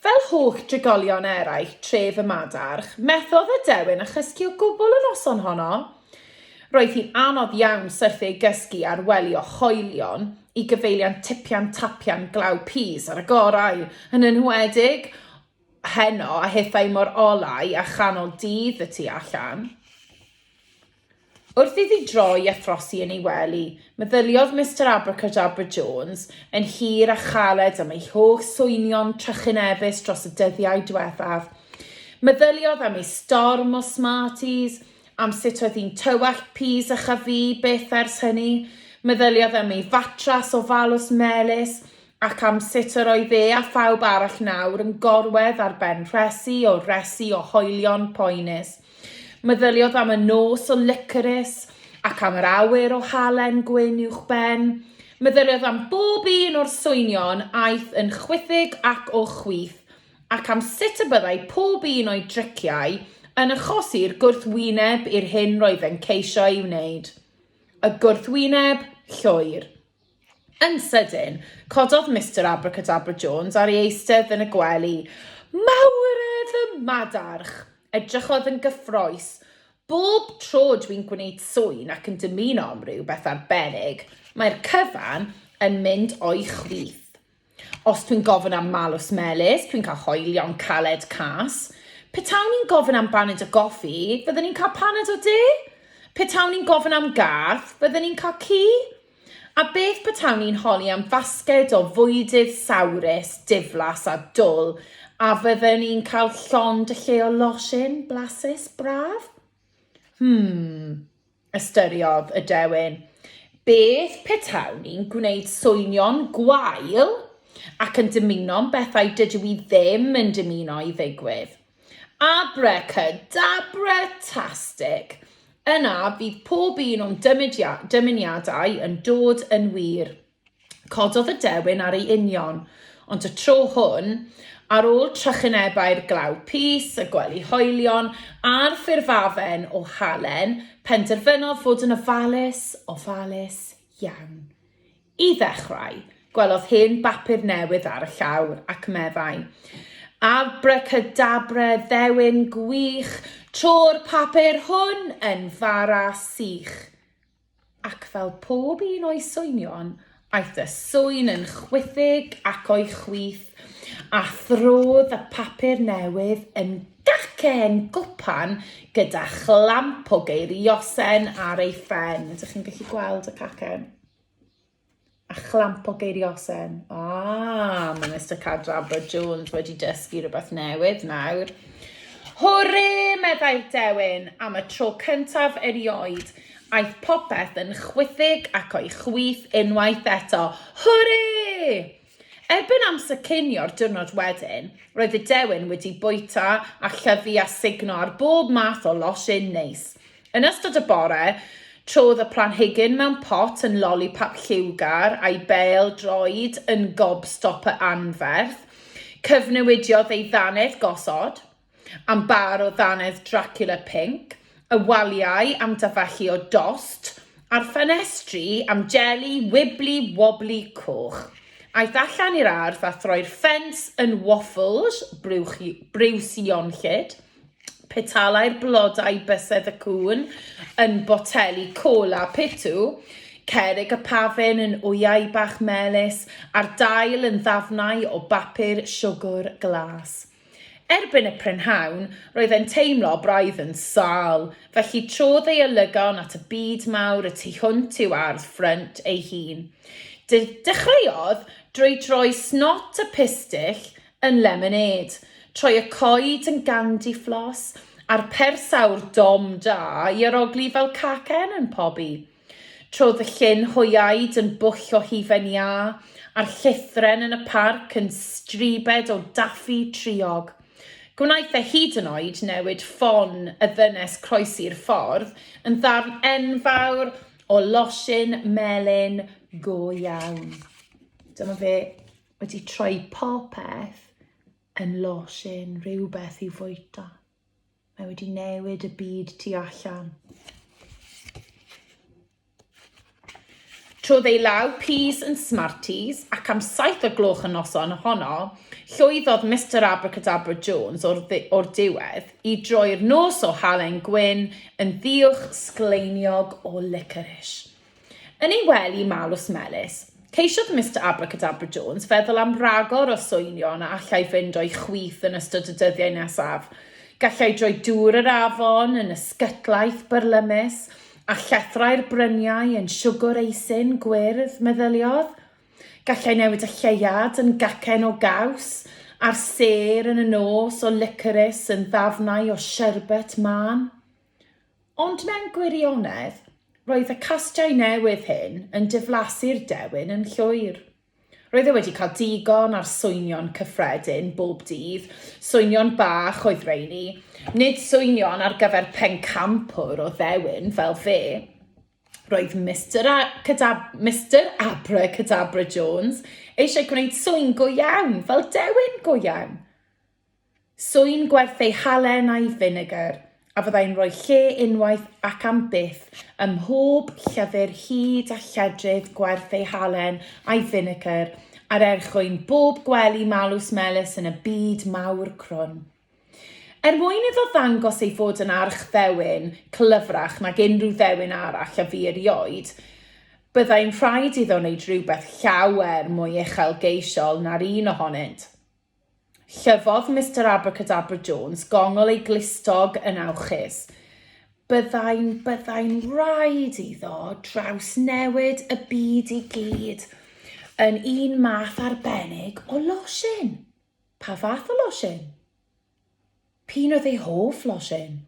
Fel holl drigolion eraill tref y Madarch, methodd y dewin a chysgu o gwbl y noson honno. Roedd hi'n anodd iawn syrthio i gysgu ar welio hoelion i gyfeiliant tipian tapian glaw pys ar y gorau, yn enwedig heno a hithau mor olau a chanol dydd y tu allan. Wrth iddi droi a throsi yn ei wely, meddyliodd Mister Abracadabra Jones yn hir a chaled am ei holl swynion trychinebus dros y dyddiau diwethaf. Meddyliodd am ei storm o Smarties, am sut oedd hi'n tywallt pys a chafu byth ers hynny. Meddyliodd am ei fatras ofalus melys, ac am sut yr oedd e a phawb arall nawr yn gorwedd ar ben rhesi o resi o hoelion poenus. Meddyliodd am y nos o licorys ac am yr awyr o halen gwyn uwchben. Meddyliodd am bob un o'r swynion aeth yn chwithig ac o chwith, ac am sut y byddai pob un o'i driciau yn achosi'r gwrthwyneb i'r hyn roedd e'n ceisio'i wneud. Y gwrthwyneb llwyr. Yn sydyn, cododd Mister Abracadabra Jones ar ei eistedd yn y gwely. Mawre fy madarch! Edrychodd yn gyffroes. Bob tro dwi'n gwneud swyn ac yn dymuno am rywbeth arbennig, mae'r cyfan yn mynd o'i chwith. Os dwi'n gofyn am malws melys, dwi'n cael hoelion caled cas. Petawn i'n gofyn am baned o goffi, fydden i'n cael paned o de? Petawn i'n gofyn am garth, fydden i'n cael ci? A beth petawn i'n holi am fasged o fwydydd sawrus, diflas a dwl, a fydden i'n cael llond y lle o losin blasus braf? Hmm. Ystyriodd y dewin, Beth petawn ni'n gwneud swynion gwael ac yn dymuno'n bethau dydw i ddim yn dymuno i ddigwydd? Abracadabratastic! Yna fydd pob un o'n dymuniadau yn dod yn wir. Cododd y dewin ar ei union, ond y tro hwn, ar ôl trychinebau'r glaw pys, y gwely hoelion, a'r ffurfafen o halen, penderfynodd fod yn ofalus, ofalus iawn. I ddechrau, gwelodd hen bapur newydd ar y llawr, ac meddai, Abracadabre, ddewin gwych, tro'r papur hwn yn fara sych. Ac fel pob un o'i swynion, aeth y sŵyn yn chwithig ac o'i chwith, a throdd y papur newydd yn gacen gwpan gyda chlamp o geiriosen ar ei phen. Ydych chi'n gallu gweld y cacen? A chlamp o geiriosen. Ah, mae Mr Cadrabra Jones wedi dysgu rhywbeth newydd nawr. Hwre, meddai'r dewin, am y tro cyntaf erioed. Aeth popeth yn chwithig ac o'i chwith unwaith eto. Hwre! Erbyn amser cinio'r diwrnod wedyn, roedd y dewin wedi bwyta a llyfu a sugno ar bob math o losin neis. Yn ystod y bore, trodd y planhigyn mewn pot yn lolipap lliwgar a'i bêl droed yn gobstopper anferth. Cyfnewidiodd ei ddannedd gosod. Am bar o ddannedd Dracula pinc, y waliau am dafachu o dost, a'r ffenestri am jeli wibli wobli coch. Aeth allan i'r ardd a throi'r ffens yn waffles briwsionllyd, petalai'r blodau bysedd y cŵn yn boteli cola pitw, cerrig y pafin yn wyau bach melys, a'r dail yn ddafnau o bapur siwgr glas. Erbyn y prynhawn, roedd e'n teimlo braidd yn sâl, felly trodd ei olygon at y byd mawr y tu hwnt i'w ardd ffrynt ei hun. De dechreuodd drwy droi snot y pistyll yn lemonêd, troi y coed yn gandiflos, a'r pers aur dom da i arogli fel cacen yn pobi. Trodd fy llyn hoiaid yn bwll o hufen iâ, a'r llithren yn y parc yn stribed o daffi triog. Gwnaeth e hyd yn oed newid ffon y ddynes croesi'r ffordd yn ddarn enfawr o losin melyn go iawn. Dyma fe wedi troi popeth yn losin, rhywbeth i'w fwyta. Mae wedi newid y byd tu allan. Trodd ei law peas yn smarties ac am saith o gloch y noson honno, llwyddodd Mister Abracadabra Jones o'r, or diwedd i droi'r nos o halen gwyn yn ddiwch sgleiniog o licorish. Yn ei wely malws melys, ceisiodd Mister Abracadabra Jones feddwl am ragor o swynion a allai fynd o'i chwith yn ystod y dyddiau nesaf. Gallai droi dŵr yr afon yn ysgytlaeth byrlymus, a llethrau'r bryniau yn siwgwr eisin gwyrdd, meddyliodd. Gallai newid y lleuad yn gacen o gaws, a'r sêr yn y nos o licorys yn ddafnau o sherbet mân. Ond mewn gwirionedd, roedd y castiau newydd hyn yn diflasu'r dewin yn llwyr. Roedd e wedi cael digon ar swynion cyffredin bob dydd, swynion bach oedd reini, nid swynion ar gyfer pencampwr o ddewin fel fe. Roedd Mister, A Cadab Mister Abra Cadabra Jones eisiau gwneud sŵn go iawn, fel dewin go iawn. Swy'n gwerth ei halen a'i finegr, a fyddai'n rhoi lle unwaith ac am byth ym mhob llyfr hyd a lledrith gwerth ei halen a'i finegr ar erchwyn bob gwely malws melys yn y byd mawr crwn. Er mwyn iddo ddangos ei fod yn archddewin clyfrach nag unrhyw ddewin arall a fu erioed, byddai'n rhaid iddo wneud rhywbeth llawer mwy uchelgeisiol na'r un ohonynt. Llyfodd Mister Abracadabra Jones gongol ei glustog yn awchus. Byddai'n, byddai'n rhaid iddo drawsnewid y byd i gyd yn un math arbennig o losin. Pa fath o losin? P'un oedd ei hoff losin?